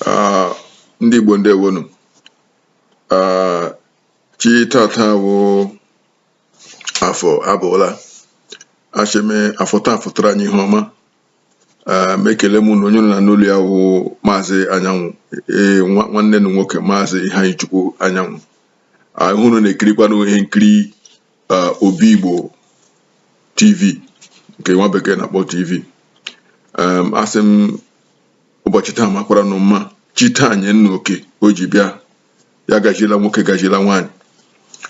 Ah, ndị Igbo ndewonu ah, chi tata wụ afọ abọọla asị m afọ taa fọtara anyị ihe ọma ah, m ekele m unu onye unu na-anụ olu ya wụ maazị anyanwụ ee nwa- nwanne nụ nwoke maazị Ifeanyichukwu anyanwụ ah ihe unu na-ekirikwanụ ihe nkiri uh, Obi Igbo TV nke nwa bekee na-akpọ TV um, asị m ụbọchị taa makwara nụ mma chi taa nye unu oke o ji bịa ya gaziela nwoke gaziela nwaanyị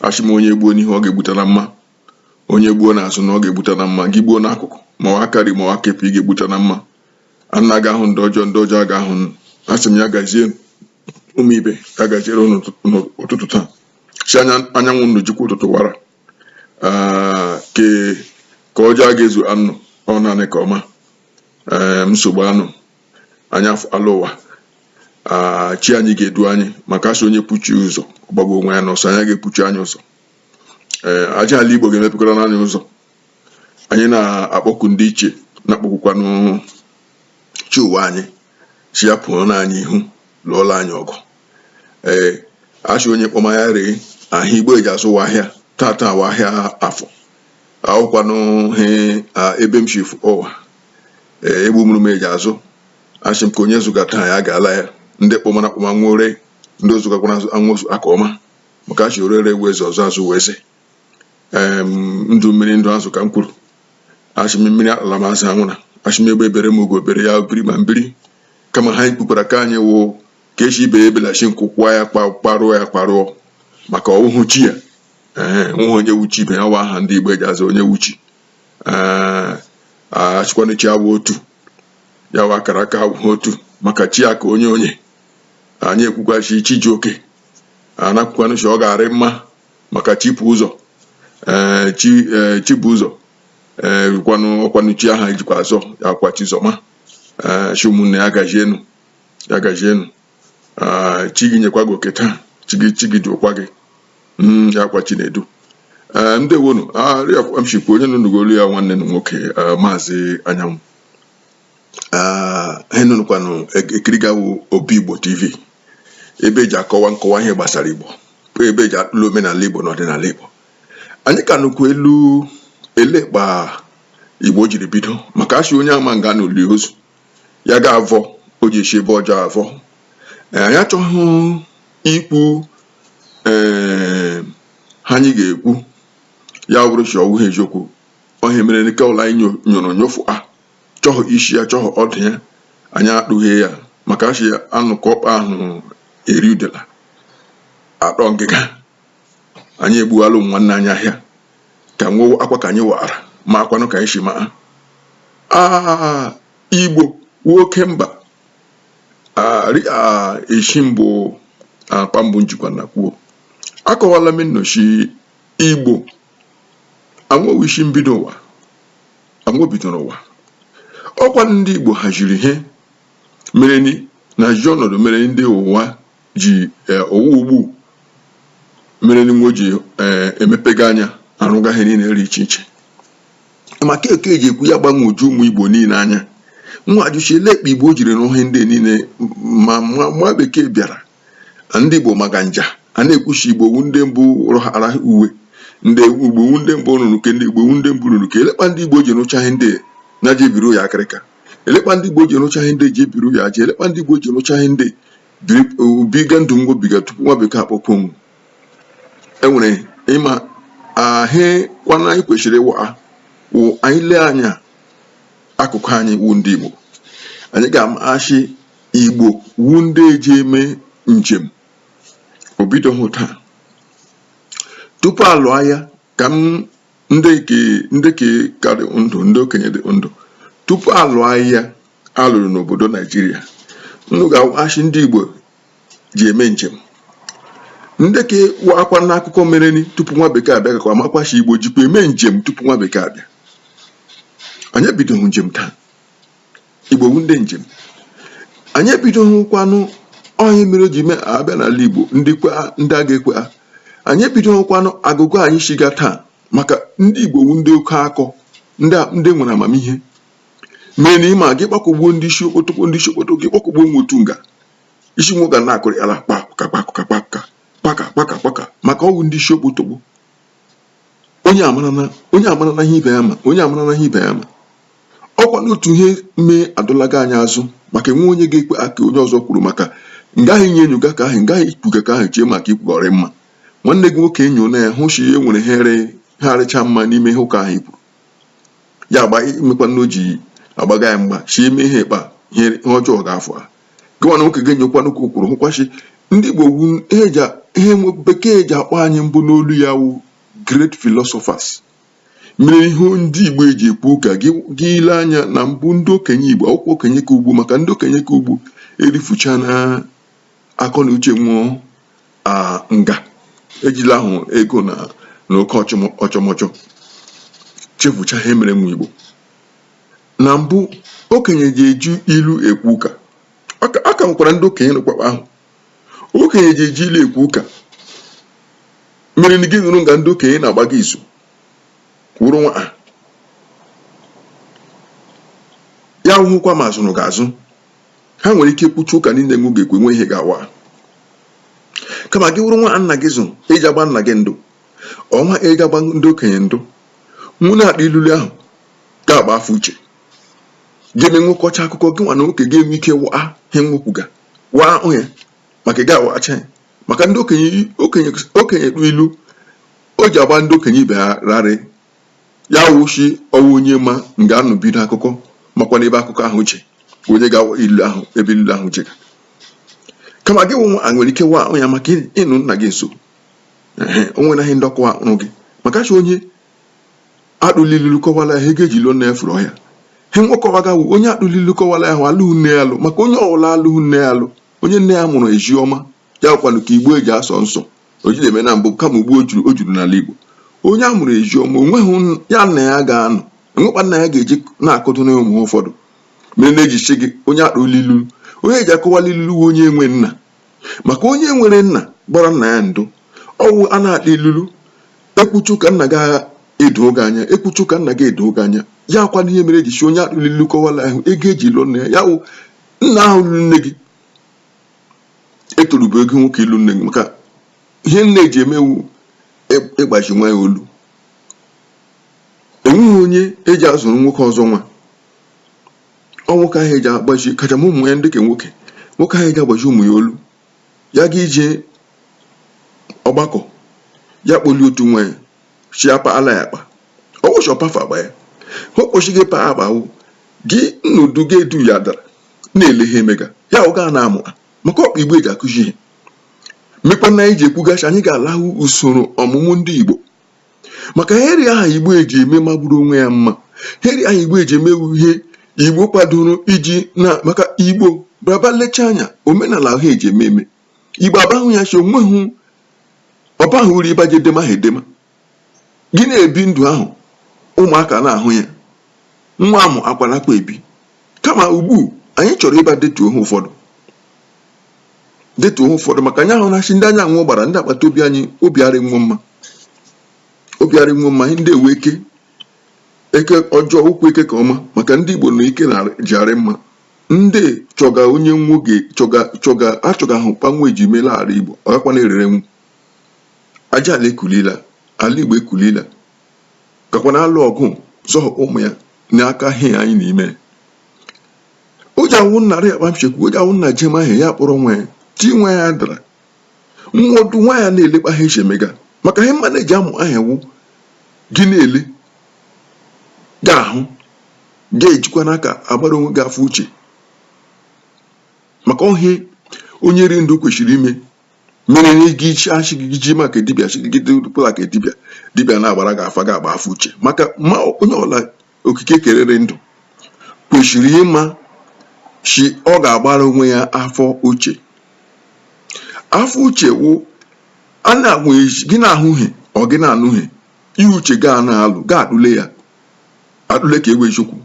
asị m onye gbuo n'ihu ọ ga-egbutala mma onye gbuo n'azụ na ọ ga-egbutala mma gị gbuo n'akụkụ ma ọ wụ aka nri ma ọ wụ aka ekpe ị ga-egbutala mma a na-aga ahụ ndị ọjọọ ndị ọjọọ aga ahụ asị m ya gazie ụmụ ibe ya gaziere unu n'ụtụtụ taa si anya anyanwụ ndụ jikwa ụtụtụ wara ke aka ọjọọ aga ezu anyị ọ naanị aka ọma nsogbu anụ anya ala ụwa chi anyị ga-edu anyị maka asị onye bu chi ụzọ ọ gbagbuo onwe ya n'ọsọ anyị aga ebu chi anyị ụzọ ee aja ala igbo ga-emepekwara anyị ụzọ anyị na-akpọku ndị ichie na-akpọkukwanụ chi ụwa anyị sị ya pụọla anyị ihu lụọla anyị ọgụ ee asị onye kpọma ya ree ahịa igbo ji azụ wụ ahịa tata wụ ahịa afọ a wụkwanụ he ebe m si fụ ụwa ee egbu mụrụ m ji azụ asị m ka onye zụga taa ya gaala ya ndị kpọmara akpọma wee ree ndị zụgakwara wee zụọ aka ọma maka asị orere wụ eze ọzụzụ wụ eze ndụ mmiri ndụ azụ ka m kwuru asị m mmiri atala ma azụ anwụla asị m egbe bere ma ugo bere ya biri ma m biri kama ha ikpukwara ka anyị wụ nke sị ibe ya ebela sị nku kwaa ya kparụọ ya kparụọ maka ọwụhụ chi ya ee nweghị onye wụ chi ibe ya wụ aha ndị igbo ji aza Onyewụchi ee asịkwa na chi awụ otu ya wụ akara aka awụhụ otu maka chi aka onye onye anyị ekwukwa sị chi ji oke a na-ekwukwanụ sị ọ ga-arị mma maka chi bu ụzọ ee chi ee chi bu ụzọ ee kwanụ ọkwanụ chi aha ejikwa azọ ya kwa chizọma ee sị m unu ya gajienu ya gajienu ee chi gị nyekwa gị oke taa chi gị chi gị duokwa gị Mm, ya kwa chinedu ee ndewonu ah m sịkwa onye unu nụga olu ya nwanne nụ nwoke ee, maazị anyanwụ Ah, ihe unu nọkwanụ ekiriga wụ obi igbo tv ebe eji akọwa nkọwa ihe gbasara igbo ebe eji akpụlụ omenala igbo na ọdịnala igbo anyị ka nọkwa elu elee kpa igbo jiri bido maka asị onye ama nga a nọ lie ozu ya ga avọ o ji esi ebe ọjọọ avọ Eh, anyị achọghị ikwu ee he anyị ga-ekwu ya wụrụ sị ọwụghị eziokwu ọ he mere nke ụlọ anyị nyo- nyụrụ nyofu a chọhụ isi ya chọhụ ọdụ ya anyị akpụghị ya maka a shị anụ kọọ ọkpa ahụ eri udela atọọ ngịga anyị egbuwala ụmụ nwanne anyị ahịa ka nwe akwa ka anyị wara ma akwanụ ka anyị si maa aa igbo nwoke mba esi mbụ akpa mbụ njikwa na kwuo akọwala m nnụ shị igbo anwo wụ isi mbido ụwa Anwo bidoro ụwa. Ọkwa ndị Igbo haziri ihe mere ni na ji ọnọdụ mere ndị ụwa ji eh, ụwa ugbu mere ni nwo ji eh, emepega anya arụga ihe niile dị iche iche maka eke ji ekwu ya gbagwoju ụmụ Igbo niile anya nwo ajụ shị elekpa Igbo jiri nwo ihe ndị niile ma ma nwa bekee bịara ndị Igbo maka nga a na-ekwu shị igbo wu ndị mbụ rụhara uwe ndị igbo wu ndị mbụ rụrụ ke ndị igbo wu ndị mbụ rụrụ ke elekpa ndị Igbo ji rụcha ihe ndị ya ji ebiri ụyọ akịrịka elekpa ndị Igbo ji rụcha ihe ndị ji ebiri ụyọ aja elekpa ndị Igbo ji rụcha ihe ndị biga ndụ nwo biga tupu nwa bekee akpọpụ onwu enwere ịma ahịkwana anyị kwesịrị ịwa wụ anyị lee anya akụkọ anyị wu ndị Igbo anyị ga-ama shị Igbo wu ndị eji eme njem obidoghị taa tupu alụọ aya ka m ndị ke ndị ke ka rị ndụ ndị okenye dị ndụ tupu alụọ aya alụrụ n'obodo naijiria nnụ ga-ashị ndị igbo ji eme njem ndị ke makwanụ akụkọ mere ni tupu nwa bekee abịa ga-amakwa shị igbo jikwa eme njem tupu nwa bekee abịa anyị ebidoghị njem taa Igbo wu ndị njem anyị ebidoghịkwanụ ọ ya mere o ji mee abịa n'ala Igbo ndị kwe ndị a ga-ekwe ha anyị ebidoghịkwanụ agụgọ anyị shiga taa maka ndị Igbo wu ndị oke akọ ndị a- ndị nwere amamihe mee na ịma gị kpakọgbuo ndị isi okpotokpo ndị isi okpoto gị kpakọgbuo nwo otu nga isi nwo ga na-akụrị ala kpakụka kpakụka kpakụka kpaka kpaka kpaka maka ọwụ ndị isi okpotokpo onye amara na onye amara na ihe ibe ya ma onye amara na ihe ibe ya ma ọkwa n'otu ihe mee adọlaga anyị azụ maka enwe onye ga-ekwe ke onye ọzọ kwuru maka ngaghị inye enyo ụka ahụ ngaghị ikwuga ụka ahụ chee maka ikwuga rị mma nwanne gị nwoke enyo na ya hụ si e nwere ihe ha arịcha mma n'ime ihe ụka ahụ i kwuru ya agba imekwa na o ji agbaga ya mgba si eme ihe ịkpa ihe ọjọọ ga-afọ ha gịnwa na nwoke ga-enyokwanụ ụka o kwuru hụkwa shị ndị Igbo wu ihe eji a- ihe nwa bekee ji akpọ anyị mbụ n'olu ya wụ great philosophers mere ihe ndị Igbo eji ekwu ụka gị gị ile anya na mbụ ndị okenye Igbo awụkwa okenye ke ugbu maka ndị okenye ke ugbu erifucha na akọ na uche nwo nga ejila ahụ ego na na oke ọchọmọ- ọchọmọchọ chefucha ihe mere nwo Igbo na mbụ okenye ji eji ilu ekwu ụka a ka nwekwara ndị okenye nọkwakwa ahụ okenye ji eji ilu ekwu ụka mere na gị nọrọ nga ndị okenye na-agba izu wụrụ nwa ya hụkwa ma azụrụ gị azụ ha nwere ike kwuchi ụka niile nwe ga-ekwe nwe ihe ga-awa kama gị wụrụ nwa nna gị zụ eji agba nna gị ndu ọ wụ a eji agba ndị okenye ndu nwụ na-akpa ilulu ahụ nke a bụ afọ uche ga-eme nwekọcha akụkọ gị nwa na oke ga-enwe ike waa ihe nwekwuga waa onye maka ị ga-awacha ya maka ndị okenye okenye okenye kpụ ilu o ji agba ndị okenye ibe ha rarị ya wụ sị ọ wụ onye ma nga a nọ bido akụkọ makwa n'ebe akụkọ ahụ uche onye ga-awa ilu ahụ ebe ilu ahụ jega kama gị wụ nwa a nwere ike waa ahụ ya maka ịnọ nna gị nso ehe o nwere ihe ndị ọkụwa ahụ gị maka sị onye a tụrụ ilulu kọwara ahụ ego eji lụọ nne furu ọhịa he nwekọwaga wụ onye a tụrụ ilulu kọwara ahụ alụghị nne ya alụ maka onye ọwụla alụghị nne ya alụ onye nne ya mụrụ ezi ọma ya kwanụ ka igbo eji asọ nsọ o ji eme na mbụ kama ugbu o juru o juru n'ala igbo onye a mụrụ ezi ọma onweghị n- ya na ya ga-anọ enwekwa nna ya ga-eji na-akụtụ na ụmụ ụfọdụ mere na-eji si gị onye a tụrụ ilulu onye eji akọwala ilulu wụ onye enwe nna maka onye nwere nna gbara nna ya ndu ọwụ a na-akpa ilulu ekwuchu ka nna gị edo oge anya ekwuchu ka nna gị edo oge anya ya akwa ihe mere eji si onye a tụrụ ilulu kọwala ahụ ego eji lụọ nne ya ya wụ nna ahụ lụrụ nne gị etorubeghị nwoke ịlụ nne gị maka ihe nne eji eme wụ ịgbazi nwa ya olu enweghị onye eji azụrụ nwoke ọzọ nwa ọ nwoke ahụ eji agbazi kacha ma ụmụ ya ndị ka nwoke nwoke ahụ eji agbazi ụmụ ya olu ya ga ije ọgbakọ ya kpọli otu nwa ya sị ya paala ya akpa ọ wụ sị ọpafa agba ya o kpochighị pa akpa awụ gị nnudu gị edu ya dara na-ele ha emega ya ọ gaa na-amụ ha maka ọ kpa igbo eji akụzi ihe mekwa na anyị ji ekwuga sị anyị ga-alahụ usoro ọmụmụ ndị igbo maka heri aha igbo eji eme magburu onwe ya mma heri ahụ igbo eji eme wụ ihe igbo kwadoro iji na maka igbo braba lecha anya omenala ahụ eji eme eme igbo aba ahụ ya sị onweghị ọ bahụ uru ịbaje edema ha edema gị na-ebi ndụ ahụ ụmụaka na-ahụ ya nwa amụ akwa nakwa ebi kama ugbu anyị chọrọ ịba detuo ha ụfọdụ detuo ụfọdụ maka anya ahụ na-achị ndị anyanwụ gbara ndị agbata obi anyị obi arị nwe mma obi arị nwe mma ndị ewe eke eke ọjọọ ụkwụ eke ka ọma maka ndị igbo na ike ji arị mma ndị chọga onye nwoge achọga ahụ kpa nwe eji meela ala igbo ọ gakwa na-erere nwu aja ala ekulila ala igbo ekulila gakwa na-alụ ọgụ zọhọkwa ụmụ ya n'aka ihe anyị na-eme o ji awụ nna rị akpa mchekwu o ji awụ nna jem ahụ ya kpọrọ nwa ya chi nwa ya dara nwa ọdụ nwa ya na-ele kpa ha si emega maka ihe mma na-eji amụ ahụ wụ gị na-ele ga-ahụ ga-ejikwa n'aka agbara onwe gị afa uche maka ọ ihe onye ri ndụ kwesịrị ime mere na ego ichi achị gị ji maka dibịa chigide pụla ka dibịa dibịa na-agbara gị afa gị agba afa uche maka ma onye ọla okike kerere ndụ kwesịrị ịma sị ọ ga-agbara onwe ya afa uche afa uche wụ a na-agwa gị na-ahụ ihe ọ gị na-anụ ihe uche gị a na-alụ gị atụle ya atụle ke wụ eziokwu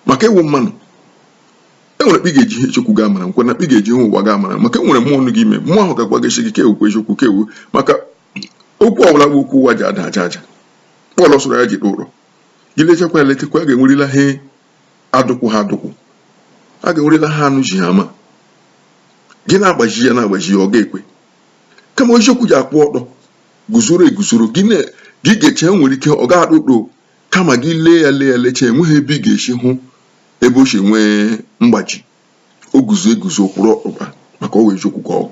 maka ị wụ mmadụ enwere kpa ị ga-eji ihe eziokwu gị amara nkwe na kpa ị ga-eji ihe ụwa gị amara maka enwere mmụọ nọ gị ime mmụọ ahụ ga-agwa gị sị gị ke a wụkwa eziokwu ke a wụ maka okwu ọbụla bụ okwu ụwa ji ada aja aja pọl soro ya jide ụrọ gị lechakwa ya lechakwa a ga-enwerila ha adụkwụ ha adụkwụ a ga-enwerila ha anụ ji ha ama gị na-agbaji ya na-agbaji ya ọ ga-ekwe kama eziokwu ji akwụ ọtọ guzoro eguzoro gị ga-eche nwere ike ọ ga-adụ ụdọ kama gị lee ya lee ya lecha enweghị ebe ị ga-esi hụ ebe o si nwee mgbaji o guzo eguzo kwụrụ ọkpụkpa maka ọ wụ eziokwu ka ọ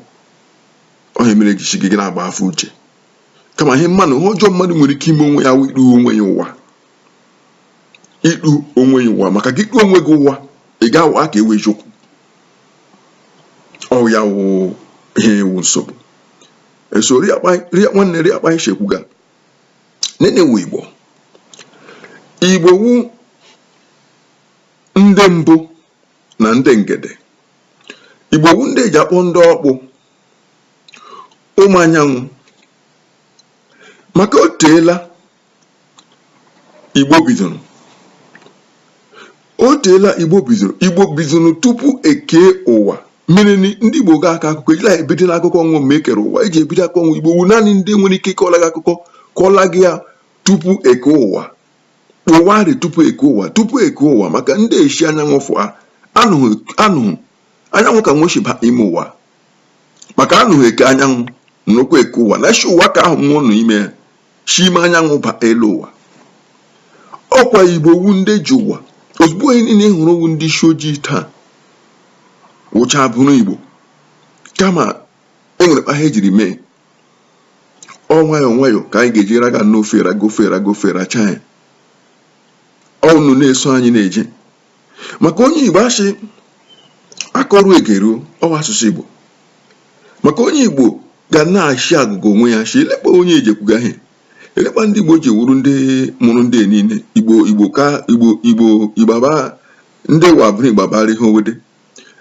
ihe a mere eji sị gị na-agba afa uche kama ihe mmadụ ihe ọjọọ mmadụ nwere ike ime onwe ya wụ ikpu onwe ya ụwa ikpu onwe ya ụwa maka gị kpuo onwe gị ụwa ị ga-awa ke wụ eziokwu ọ ya wụ ihe wụ nsogbu eso nwanne ri akpa anyị ga nene wu igbo igbo wu ndị mbụ na ndị ngede igbo wu ndị eji akpọ ndị ọkpụ ụmụ anyanwụ maka o teela igbo bidoro o teela igbo bidoro igbo bidoro tupu ekee ụwa mere ndị igbo ga-aka akụkọ ejila ebido n'akụkọ nwe ma ekere ụwa eji ebido akụkọ nwe igbo wu naanị ndị nwere ike ịkọla gị akụkọ kọla gị ya tupu ekee ụwa ụwa dị tupu eke ụwa tupu eke ụwa maka ndị eshi anyanwụ fụa anụghị anụghị anyanwụ ka nweshiba ime ụwa maka anụghị eke anyanwụ nnukwu eke ụwa na shi ụwa ka ahụ mmụọ nọ ime ya shi ime anyanwụ ba elu ụwa ọkwa igbo wu ndị ji ụwa ozugbo onye niile hụrụ ọ wụ ndị isi ojii taa wụcha bụrụ igbo kama enwere kpa ha ejiri mee ọ nwayọ nwayọ ka anyị ga-eji raga n'ofe e raga ofe e raga ofe racha ya unu na-eso anyị na-eje maka onye igbo a sị a kọruo e geruo ọ wụ asụsụ igbo maka onye igbo ga na-achị agụgọ onwe ya shị ele kpa onye ji ekwuga ihe ele kpa ndị igbo ji wuru ndị mụrụ ndị niile igbo igbo ka igbo igbo igbaba ndị wabụrụ igbabara ihe owede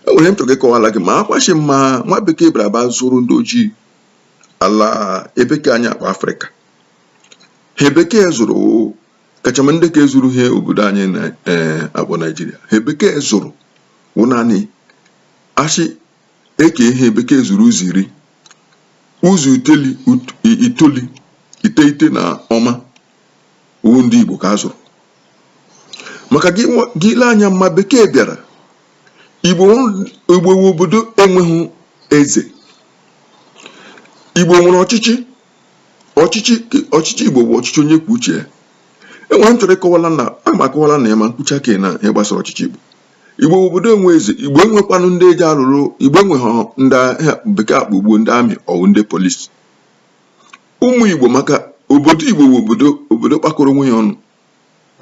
e nwere ihe m chọrọ ịkọwara gị ma akwachi ma nwa bekee bịara ba zụrụ ndị ojii ala ebe ka anyị akpọ afrịka ihe a bekee zụrụ kachama ndị ka e zuru ihe obodo anyị na-akpọ naijiria ihe a bekee zụrụ wụ naanị a shị e kee ihe bekee zuru ụzọ iri ụzọ iteli ut- i- itoli iteghete na ụma ọ wụ ndị igbo ka a zụrụ maka gị nwa- gị ile anya mma bekee bịara igbo nwe- igbo wụ obodo enweghị eze igbo nwere ọchịchị ọchịchị ọchịchị igbo bụ ọchịchị onye kwuo uche ya enwere ihe m chọrọ ịkọwala na a ma akọwala na ya ma m kwucha ka na ihe gbasara ọchịchị igbo igbo bụ obodo enwe eze igbo enwekwanụ ndị eji alụrụ igbo enweghị ndị a bekee akpọ ugbu a ndị amị ọ wụ ndị polisi ụmụ Igbo maka obodo Igbo bụ obodo obodo kpakọrọ onwe ya ọnụ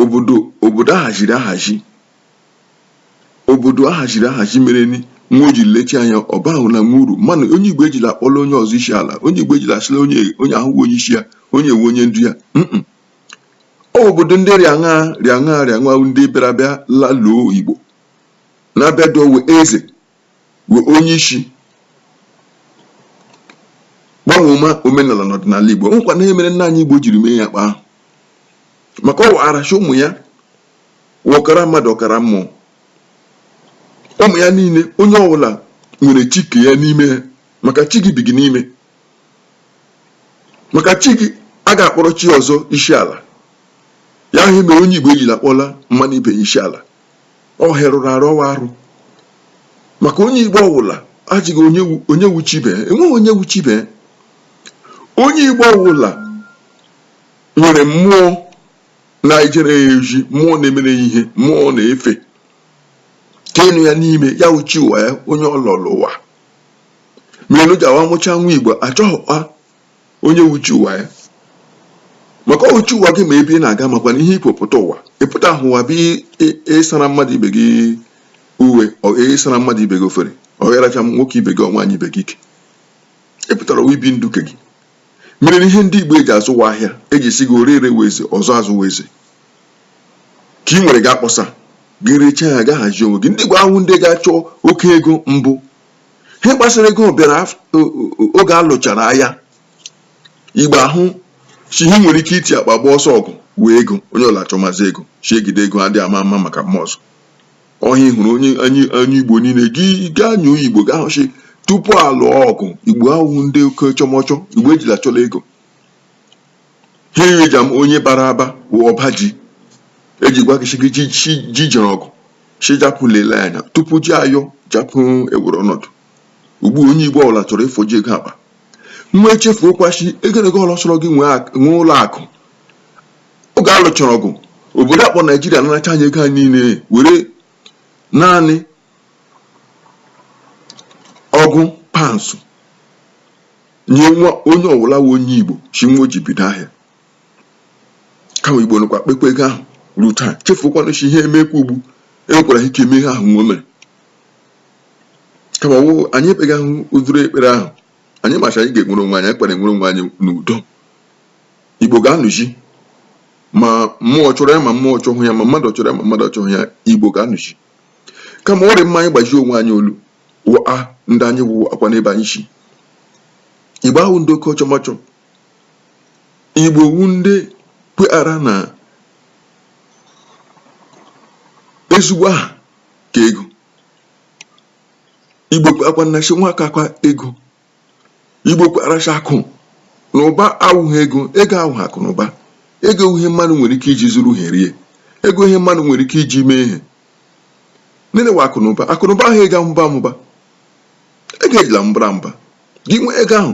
obodo obodo ahaziri ahazi obodo ahaziri ahazi mere ni nwa o ji lechi anya ọba ahụ na nwa uru mana onye Igbo ejila akpọla onye ọzọ isi ala onye Igbo ejila asịla onye onye ahụ wụ onye isi ya onye a wụ onye ndu ya mm ọ bụ obodo ndị rịaṅa rịaṅa rịaṅa ndị bịara bịa laluo Igbo na-abịa dowe eze wee onye isi gbanwoma omenala na ọdịnala Igbo ọ kwanụ ihe mere nna anyị Igbo jiri mee ya kpa ahụ maka ọ warachi ụmụ ya ọkara mmadụ ọkara mmụọ ụmụ ya niile onye ọbụla nwere chi ke ya n'ime ya maka chi gị bi gị n'ime maka chi gị a ga-akpọrọ chi ọzọ isi ala ya wụ ihe mere onye Igbo ejila akpọla mmanụ ibe ya isi ala ọ ihe rụrụ arụ ọ wụ arụ maka onye igbo ọwụla adịghị onye wụ chi ibe enweghị onye wụ chi ibe onye igbo ọwụla nwere mmụọ na-ejere ya ozi mmụọ na-emere ya ihe mmụọ na-efe ke nọ ya n'ime ya wụ chi ụwa ya onye ọ lọlọ ụwa mere ji awa mụcha nwa igbo achọghịkwa onye wuchi ụwa ya maka o wuchi ụwa gị ma ebe ị na-aga makwa na ihe i kwo pụta ụwa ị pụtahụ ụwa bụ ịsara mmadụ ibe gị uwe ịsara mmadụ ibe gị efere ọ ịracha nwoke ibe gị ọ nwaanyị ibe gị ike ị pụtara ụwa ibi ndụ ke gị mere na ihe ndị Igbo eji azụ ụwa ahịa eji si gị ore ere weze ọzụ azụ weze ka ị nwere gị akpọsa gị rechaa ya ga hazie onwe gị ndị Igbo awụ ndị ga-achọ oke ego mbụ ihe kpasịrị ego bịara oge a lụchara agha igbo ahụ si ihe nwere ike iti akpa gba ọsọ ọgụ wụ ego onye ọla achọmazi ego si egide ego adị ama ama maka mma ọzọ ọhịa hụrụ onye igbo niile gị gaa nyoo igbo ga-ahụ sị tupu a lụọ ọgụ igbo awụhụ ndị oke chọmọchọ igbo ejila achọla ego ihe eji ama onye bara aba wụ ọba ji eji gwa gị shi ji jere ọgụ shi japụ lelee anya tupu ji ayọ japụ ewere ọnọdụ ugbu a onye igbo ọbụla chọrọ ịfọji ego akpa nwa echefuokwa shi egerego ọla sọrọ gị nwee ak- nwee ụlọ akụ oge a lụchara ọgụ obodo akpọ naijiria naracha anyị ego anyị niile were naanị ọgụ pounds nye nwa onye ọwụla wụ onye igbo shi nwa o ji bido ahịa kama igbo nọkwa kpekwa ego ahụ ruo taa chefukwanụ shi ihe emekwa ugbu enwekwara ike eme ihe ahụ nwa o mere kama wụ anyị ekpegahụ ụdịrị ekpere ahụ anyị ma shi anyị ga-enwere onwe anyị anyị kpara enwere onwe anyị n'udo igbo ga-anọzi ma mmụọ chọrọ ya ma mmụọ chọhụ ya ma mmadụ chọrọ ya ma mmadụ chọhụ ya igbo ga-anọzi kama ọ dị mma anyị gbazi onwe anyị olu gwaa ndị anyị gwaakwa ndị be anyị shi igbo awụ ndị oke ọchọmọchọ igbo wụ ndị kweghara na ezigbo aha ka ego igbo kweakwa na shi nwa ka aka ego Igbo kwara sị akụ na ụba awụghị ego, ego awụghị akụ na ụba. Ego ihe mmadụ nwere ike iji zụrụ ihe rie. Ego ihe mmadụ nwere ike iji mee ihe. Nene wa akụ na ụba. Akụ na ụba wụ ihe ga-amụba amụba. Ego ejila amụbara amụba. Gị nwee ego ahụ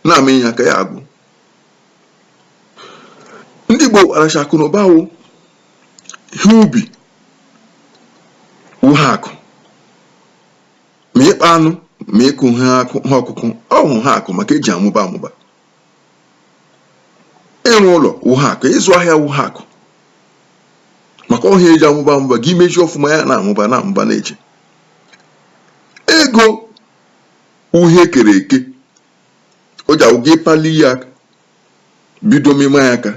na-ama ya aka ya agwụ. Ndị Igbo kwara sị akụ na ụba wụ ihe ubi wụ ha akụ. ma ịkpa anụ ma ịkụ ihe ọkụkụ ọ wụ ha akụ maka eji amụba amụba ịrụ ụlọ wụ ha akụ ịzụ ahịa wụ ha akụ maka ahịa eji amụba amụba gị mezi ọfụma ya na-amụba na-amụba na-eche ego wụ ihe e kere eke o ji agwụ gị pali ya aka bido mịma ya aka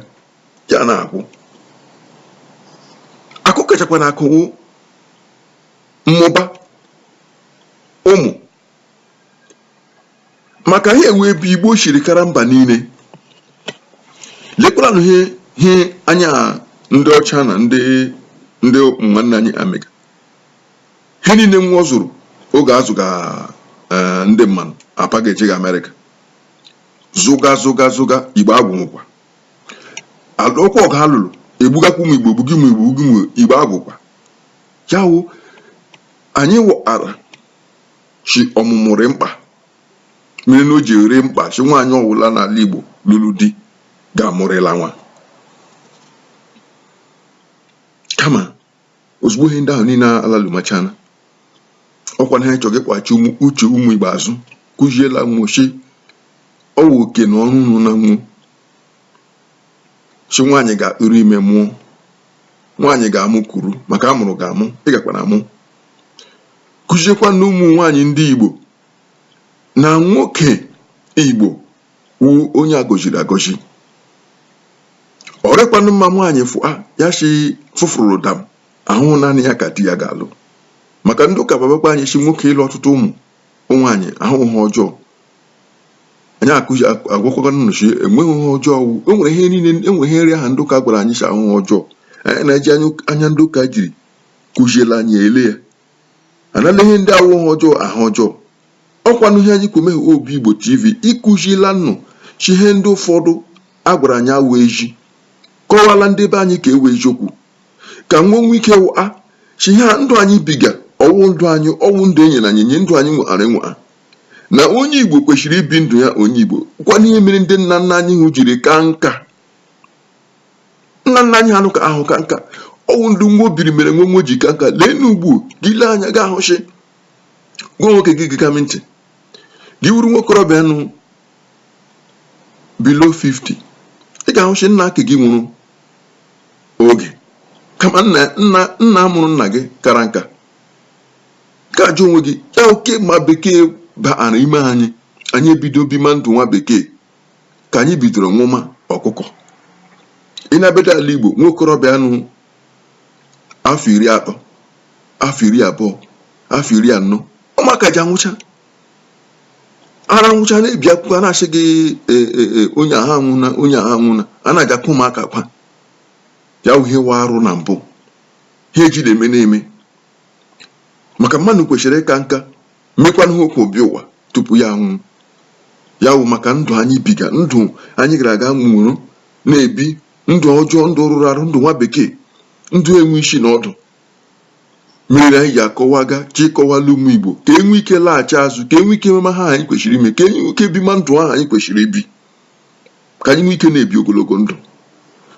ya na-akwụ akụ kachakwanụ akụ wụ mmụba ụmụ maka ha ewe ebe igbo siri kara mba niile lekwaranụ ihe ihe anyị ndị ọcha na ndị ndị nwanne anyị emega ihe niile nwo zụrụ oge a zụga eh, ndị mmanụ apaga shi ga amerịka zụga zụga zụga igbo agwụnwụkwa alụkwa ọgụ a lụrụ egbugakwa ụmụ igbo egbuga ụmụ igbo egbuga ụmụ igbo agwụkwa ya wụ anyị wụara shi ọmụmụ rị mkpa mere na o ji rị mkpa shi nwaanyị ọwụla n'ala igbo lụrụ di ga-amụrịla nwa kama ozugbo ihe ndị ahụ niile alalumachana ọkwa na ha chọrọ ịkpọghachi uche ụmụ igbo azụ kụziela nwo shi ọ wụ oke na ọrụ unu na ọ wụ shi nwaanyị ga-atụrụ ime mụọ nwaanyị ga-amụ kwuru maka a mụrụ gị amụ ị gakwa na amụ kụziekwanụ ụmụ nwaanyị ndị igbo na nwoke igbo wụ onye a gọziri agọzi ọ rịkwanụ mma nwaanyị fụa ya si fụfụrụ dam awụ naanị ya ka di ya ga-alụ maka ndị ụka babakwa anyị si nwoke ịlụ ọtụtụ ụmụ nwaanyị awụ ihe ọjọọ anyị akụzi agwakwaga nnụ shi enweghị ihe ọjọọ wụ enwere ihe niile enwere ihe ndị ahụ ndị ụka gwara anyị si awụ ihe ọjọọ anyị na-eji anya ndị ụka jiri kụziela anyị ele ya a na-ele ihe ndị awụ ihe ọjọọ ahụ ọjọọ ọ kwanụ ihe anyị kwọ meghe obi igbo tv ịkụzila nnụ shi ihe ndị ụfọdụ a gwara anyị awụ ezi kọwaala ndị be anyị ka e wee eziokwu ka nwo nwee ike wụa shi ihe a ndụ anyị biga ọwụ ndụ anyị ọwụ ndụ e nyena anyị enye ndụ anyị nweghara enwegha na onye igbo kwesịrị ibi ndụ ya onye igbo kwanụ ihe mere ndị nna nna anyị hụ jiri ka nka nna nna anyị ha nụ ka ahụ ka nka ọwụ ndụ nwo biri mere nwo wee ji ka nka leenụ ugbu gị lee anya gị ahụ shi gị wụ nwoke gị gega m ntị gị wụrụ nwokorobịa nọ below 50 ị ga-ahụ shi nna ke gị nwụrụ oge kama nna nna nna mụrụ nna gị kara nka ka ajụ onwe gị ya oke ma bekee baara ime anyị anyị ebido bima ndụ nwa bekee ka anyị bidoro nwụma ọkụkọ ị na-abịada ala Igbo nwa okorobịa nọ afọ iri atọ afọ iri abụọ afọ iri anọ ụmụaka ji anwụcha a na-anwụcha na-ebi akwụkwọ a na-ashị gị e, e, e, onye a anwụna onye a anwụna a na-aja akwa ụmụaka kwa ya wụ ihe wụ arụ na mbụ ha ejile eme na-eme maka mmadụ kwesịrị ịka nka mekwanụ ihe o kwo bịa ụwa tupu ya anwụ ya wụ maka ndụ anyị biga ndụ anyị gara aga nwụrụ na-ebi ndụ ọjọọ ndụ rụrụ arụ ndụ nwa bekee ndụ enwe isi na ọdụ mere anyị ji akọwaga sị kọwala ụmụ igbo ka e nwee ike laghachi azụ ka e nwee ike mema ihe anyị kwesịrị ime ka e nwee ike bima ndụ ahụ anyị kwesịrị ibi ka anyị nwee ike na-ebi ogologo ndụ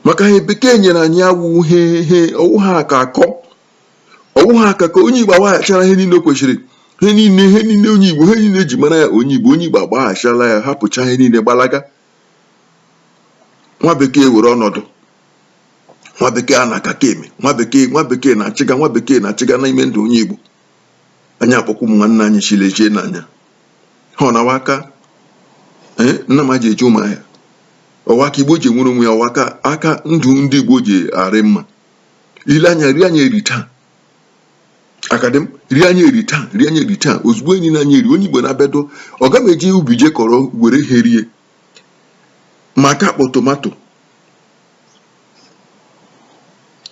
maka ihe bekee nyere anyị awụ he he ọ wụ ha ka akọ ọ wụ ha aka ka onye Igbo agbaghachala ihe niile o kwesịrị ihe niile ihe niile onye Igbo ihe niile e ji mara ya onye Igbo onye Igbo agbaghachala ya hapụcha ihe niile gbalaga nwa bekee were ọnọdụ nwa bekee a na-aka ka eme nwa bekee nwa bekee na-achịga nwa bekee na-achịga n'ime ndụ onye Igbo anyị akpọku ụmụ nwanne anyị sị lechie anya ha ọ na-awa aka eh, nna m ji eji ụmụ ahịa ọ wụ aka igbo ji enwere onwe ya ọ wụ aka ndụ ndị igbo ji arị mma i lee anya iri anyị eri taa akadị m iri anyị eri taa iri anyị eri taa ozugbo enyi na anyị eri onye igbo na-abịado ọ ga m eje ubi je kọrọ were ihe rie ma aka akpọ tomato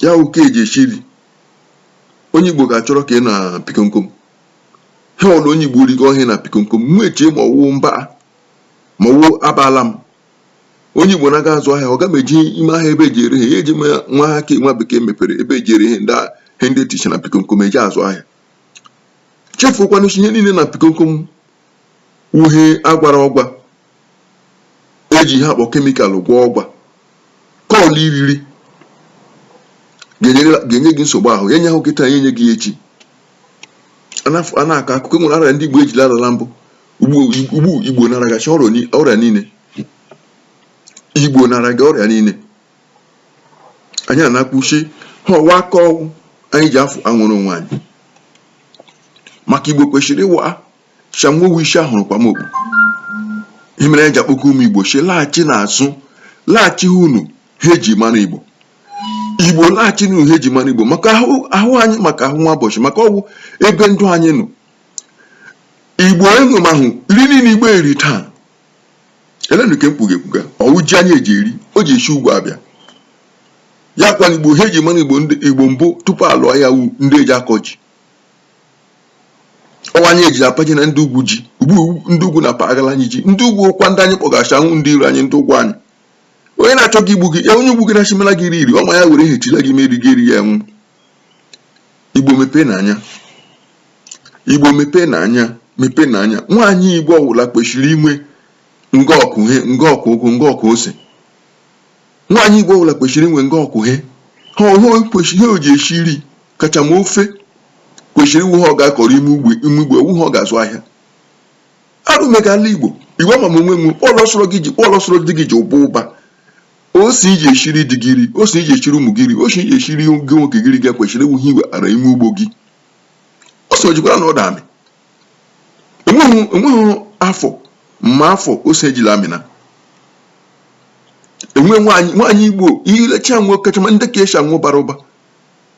ya wụ ka e ji esi nri onye igbo ga-achọrọ ke dị na pikomkom ha ọrụ onye igbo rigo ọhịa na pikomkom mụ echie ma ọ wụ mba ma ọ wụ abala m onye Igbo na-aga azụ ahịa ọ ga m eje ime ahịa ebe e ji ere ihe ya eji nwa ha ka nwa bekee mepere ebe e ji ere ihe ndị ihe ndị dịcha na pikomkom e ji azụ ahịa chefukwana ihe niile na pikomkom wụ ihe a gwara ọgwa e ji ihe a kpọ chemical gwaa ọgwa ke ọ wụla i riri ga-enye gị nsogbu ahụ ya enyehụ gị taa ya enye gị echi a na-akọ akụkọ nwere ọrịa ndị Igbo ejila arịa na mbụ ugbu igbo na-arịagacha ọrịa niile igbo na-arịaga ọrịa niile anyị ana-akpuchi ha ọ wụ aka ọgwụ anyị ji afụ anwụrụ onwe anyị maka igbo kwesịrị ịma sị hanwa wụ isi a hụrụ kwama okpu ihe mere anyị ji akpọku ụmụ igbo sị laghachi n'azụ laghachinụ ihe e ji mara igbo igbo laghachinụ n'ihe e ji mara igbo maka ahụ anyị maka ahụ nwa ụbọchị maka ọ wụ ebe ndụ anyị nọ Igbo unu mahụ iri niile Igbo eri taa elenụ ka mkpuga ekpuga ọ wụ ji anyị eji eri o ji esi ugwu abịa ya kwana Igbo ihe e ji mara Igbo Igbo mbụ tupu a lụọ aya wụ ndị eji akọ ji ọ wụ anyị eji apajere ndị ugwu ji ugbu ndị ugwu na-apagara anyị ji ndị ugwu wụkwa ndị anyị kpọga sị ha wụ ndị iro anyị ndị ụgwọ anyị onye na-achọ gị igbu gị onye ụgwọ gị na-achimela gị iri iri ọma ya were hechila gị meri gị erie ya anwụ Igbo mepee n'anya Igbo mepee n'anya mepee n'anya nwaanyị Igbo ọwụla kwesịrị inwe nga ọ kụ ihe nga ọ kụ ụgụ nga ọ kụ ose nwaanyị Igbo ọwụla kwesịrị inwe nga ọ kụ ihe ha ọhụụ kwesịrị ihe o ji esi nri kachama ofe kwesịrị ịwụ ihe ọ ga-akọrọ ime ugbo ime ugbo awụ ihe ọ ga-azụ ahịa arụ emegala Igbo Igbo ama m onwe m kpọlọsọrọ gị ji kpọlọsọrọ di gị ji ụba ụba ose i ji eshiri di gị ri ose i ji eshiri ụmụ gị ri ose i ji eshiri gị nwoke gị ri gị kwesịrị ịwụ ihe i wetara ime ugbo gị ose o jikwara na ọ da amị enweghị enweghị afọ ma afọ ose ejila amịna enwe nwaanyị nwaanyị igbo ilecha nwe kachama ndị ka esi anwụ bara ụba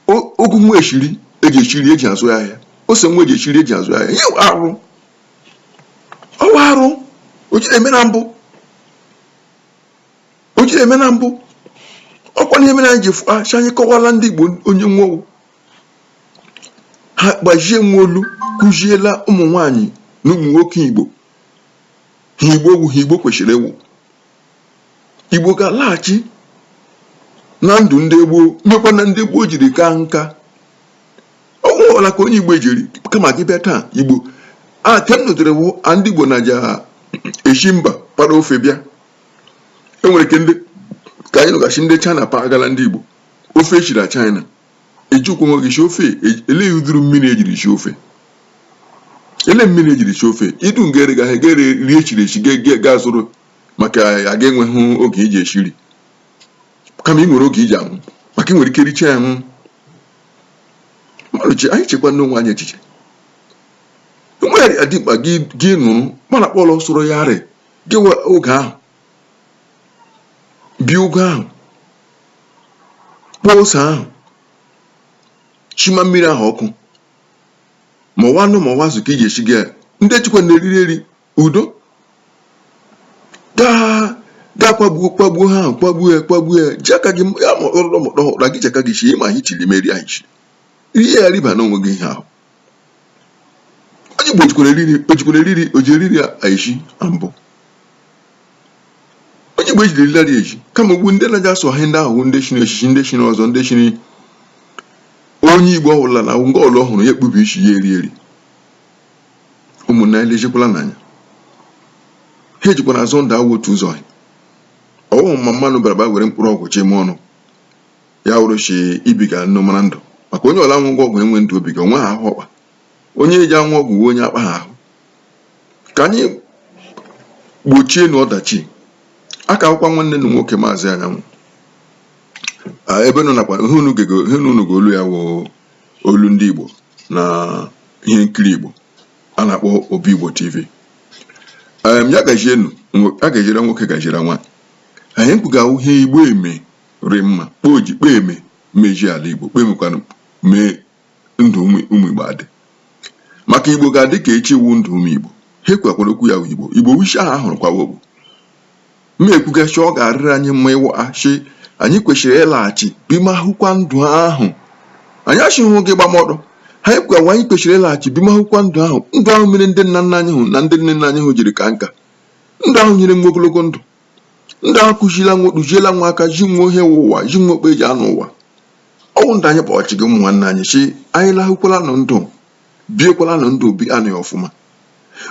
ụ- ụgụ nwa eshiri eji eshi ri eji azụ ya ahịa ose nwa eji eshi ri eji azụ ya ahịa ya wụ arụ ọ wụ arụ o jiri eme na mbụ o jiri eme na mbụ ọkwa ihe mere anyị ji ashị anyị kọwala ndị Igbo onye nwowu ha gbajie nwa olu kụziela ụmụ nwanyị na ụmụ nwoke Igbo ihe Igbo wụ ihe Igbo kwesịrị ịwụ Igbo ga-alaghachi na ndụ ndị gboo mekwa ihe ndị gboo jiri kaa nka ọ nwụrụla ka onye Igbo jiri kama gị bịa taa ugbu a nke m nụtara wụ ndị Igbo na-aja eshi mba para ofe bịa enwere nke ndị ka anyị nụghachi ndị China pagala ndị Igbo ofe eshiri na China ejikwa nwe gị si ofe e- elee ụdịrị mmiri ejiri si ofe ele mmiri ejiri si ofe idu nga ere gaghị ga rie shiri eshi ga zụrụ maka gị enweghị oge iji eshi nri kama ị nwere oge iji anwụ maka ị nwere ike richa ya nwụọ mmadụ ji anyị chekwa n'onwe anyị echiche enweghị adị mkpa gị nụrụ mana kpọrọ soro ya arị gị nwe oge ahụ bie ụgụ ahụ kpụọ ose ahụ shima mmiri ahụ ọkụ ma ọ wụ anụ ma ọ wụ azụ ka ị ga-esi gị ya ndị jikwa na-eriri eri udo gaa gaa kwagbuo kwagbuo ha ahụ kwagbuo ya kwagbuo ya ji aka gị ya ma ọkpọrọ mọkpọrọ gị ji aka gị shie ma ihe i shiri meri anyị shiri rie ya riba n'onwe gị ihe ahụ onye Igbo jikwara eriri ojikwara eriri oji eriri eji na mbụ onye Igbo ejiri eriri adịghị eji kama ugbu ndị na-aja asụ ahịa ndị ahụ ndị chiri echichi ndị chiri ọzọ ndị chiri onye Igbo ọbụla na ngwa ọlụ ọhụrụ ya ekpubi isi ya eri eri ụmụnna ya lejekwala n'anya ihe ejikwa na-azọ ndụ awụ otu ụzọ ọ wụhụ ma mmanụ bara ba were mkpụrụ ọgwụ chime ọnụ ya wụrụ shi ibiga ndụ mara ndụ maka onye ọla nwụga ọgwụ enwe ndụ o biga o nwe ha ahụ ọkpa onye eji anwụ ọgwụ o nwe onye akpa ha ahụ ka anyị gbochie nụ ọdachi ọ ka wụkwa nwanne unu nwoke maazị anyanwụ ebe nọ nakwa ihe unu ga olu ya wụ olu ndị igbo na ihe nkiri igbo a na-akpọ obi igbo tv ya gajienu a gajiere nwoke gajiere nwaanyị anyị kwuga ihe igbo eme rị mma kpa o ji kpa eme meji ala Igbo kpa emekwana mee ndụ ụmụ ụmụ Igbo adị maka Igbo ga-adị ka echi wụ ndụ ụmụ Igbo ha ekwukwara okwu ya bụ Igbo Igbo wụ ishi ahụ ahụrụ kwawa ogbo ma ekwugasị ọ ga-arịrị anyị mma ịwa achị anyị kwesịrị ịlaghachi bimahụkwa ndụ ahụ anyị achịghị gị gbamọdụ ha ekwewa anyị kwesịrị ịlaghachi bimahụkwa ndụ ahụ ndụ ahụ mere ndị nna nna anyị hụ na ndị nne nna anyị hụ jiri kaa nka ndụ ahụ nyere nwo ogologo ndụ ndụ ahụ kụziela nwo kụziela nwo aka ji nwo ihe wụ ụwa ji nwo kpa eji anọ ụwa ọ wụ ndụ anyị kpọọ shị gị ụmụ nwanne anyị si anyị lahụkwala nụ ndụ biekwala nụ ndụ bie nụ ya ọfụma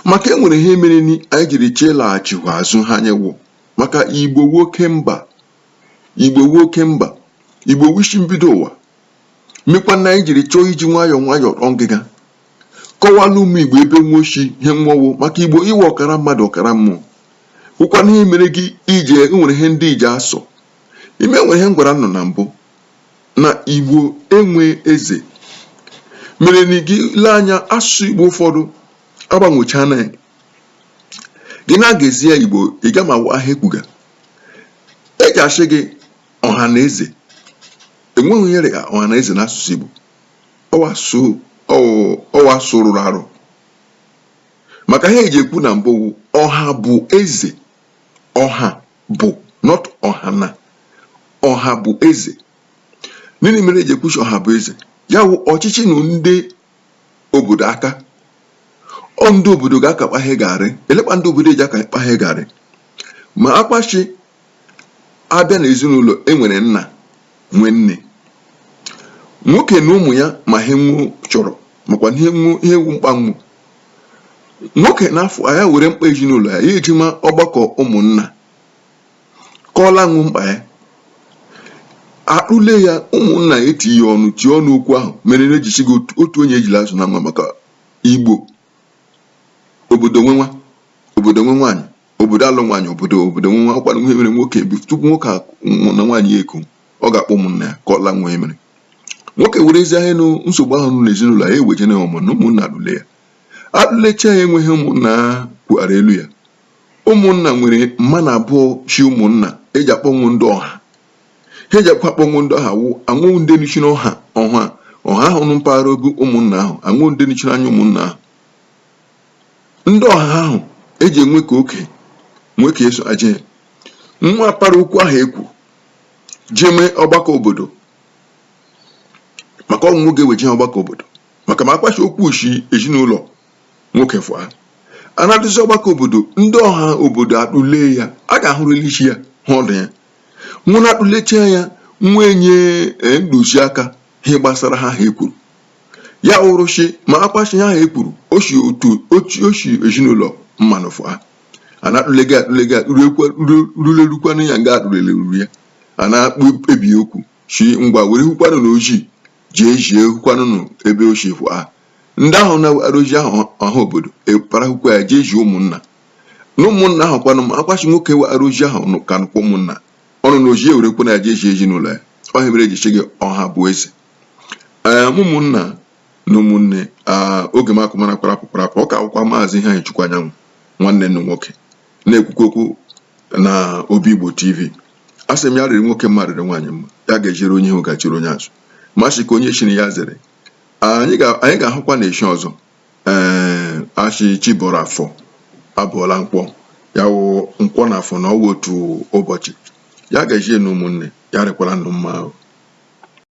maka enwere ihe mere ni anyị jiri chee laghachikwa azụ ha anyị wụ maka igbo wụ oke mba igbo wụ ishi mbido ụwa mekwa na anyị jiri chọọ iji nwayọọ nwayọọ rọọ ngịga kọwalụ ụmụ Igbo ebe nwo si, ihe nwo wụ maka Igbo wụ ọkara mmadụ ọkara mmụọ wụkwana ihe mere gị ije enwere ihe ndị eji asọ ime nwere ihe m gwara unu na mbụ na Igbo enwe eze mere na gị lee anya asụsụ Igbo ụfọdụ agbanwechana ya gị na-agụzi ya Igbo ị ga ma wa ha ekwuga eji asị gị ọha na eze enweghị ihe rị ya ọha na eze n'asụsụ Igbo ọ wụ asụrụrụ arụ maka ha eji ekwu na mbụ ọha bụ eze ọha bụ not ọha na ọha bụ eze nini mere eji ekwu shi ọha bụ eze ya wụ ọchịchị nọ ndị obodo aka ọ ndị obodo ga-aka kpa ihe ga-arị elee kpa ndị obodo eji aka kpa ihe ga-arị makwa shi a bịa n'ezinụlọ e nwere nna nwee nne nwoke na ụmụ ya ma ihe nwo chọrọ makwa ihe wụ mkpa nwo nwoke na-afụ ya were mkpa ezinụlọ ya ya ejema ọgbakọ ụmụnna kọọla nwo mkpa ya akpụle ya ụmụnna etinye ọnụ tie ọnụ okwu ahụ mere na eji shi gị otu- otu onye ejila azụ nwa maka igbo obodo nwe nwa obodo nwe nwaanyị obodo alụ nwaanyị obodo obodo nwe nwa ọ kwa ihe mere nwoke bi tupu nwoke a nwụ na nwaanyị ya eko ọ ga-akpọ ụmụnna ya ka ọ la nwa emere nwoke were ezi ahịa nụ nsogbu ahụ nụ n'ezinụlọ ya eweje na ọmụ na ụmụnna atụle ya atụlecha ya enweghị ụmụnna kwughara elu ya ụmụnna nwere mma na abụọ chi ụmụnna eji akpọnwụ ndị ọha ha eji akwa akpọnwụ ndị ọha wụ a wụ ndị nọchiri ọha ọha ọha ahụ nụ mpaghara obi ụmụnna ahụ a wụ ndị nọchiri anya ụmụnna ahụ ndị ọha ahụ eji enwe ka oke nwee ka eso aje nwa para okwu ahụ e kwuru jee mee ọgbakọ obodo maka ọnwụ nwoke weje ọgbakọ obodo maka ma akwashi okwu shi ezinụlọ nwoke fụa a na-adụzi ọgbakọ obodo ndị ọha obodo atụle ya a ga-ahụrịla isi ya hụ ọdụ ya nwụ na-atụlecha ya wee nye ntụziaka ihe gbasara ha ha ekwuru ya wụrụ shị ma akwashi ahụ e kwuru o si otu otu o si ezinụlọ mmanụ fụa a na-atụlega atụlega ruekwa- ru- rulerukwanụ ya nga atụlele ruru ya a na-ekpebi okwu si ngwa were hụkwanụ na ozi jee zie hụkwanụ nụ ebe o si fụa ndị ahụ wara ozi ahụ ọha obodo epara hụkwa ya jee zie ụmụnna na ụmụnna ahụ kwanụ ma akwashi nwoke wara ozi ahụ nụ ka nụkwa ụmụnna ọnụ na ozi ewerekwa na ya jee zie ezinụlọ ya ọ ihe mere e ji sị gị ọha bụ eze ee ụmụnna na ụmụnne oge m akụmara kparapụ kparapụ ọ ka wụkwa maazị iheanyịchukwu anyanwụ nwanne unu nwoke na-ekwukwu okwu na obi igbo tv a sị m ya rịrị nwoke mma rịrị nwaanyị mma ya gaziere onye ihu gaziere onye azụ ma sị ka onye chiri ya zere anyị ga-ahụkwa na echi ọzọ ee a sị chi bọrọ afọ abọọla nkwọ ya wụ nkwọ na afọ na ọ wụ otu ụbọchị ya gazie nụ ụmụnne ya rịkwara unu mma ahụ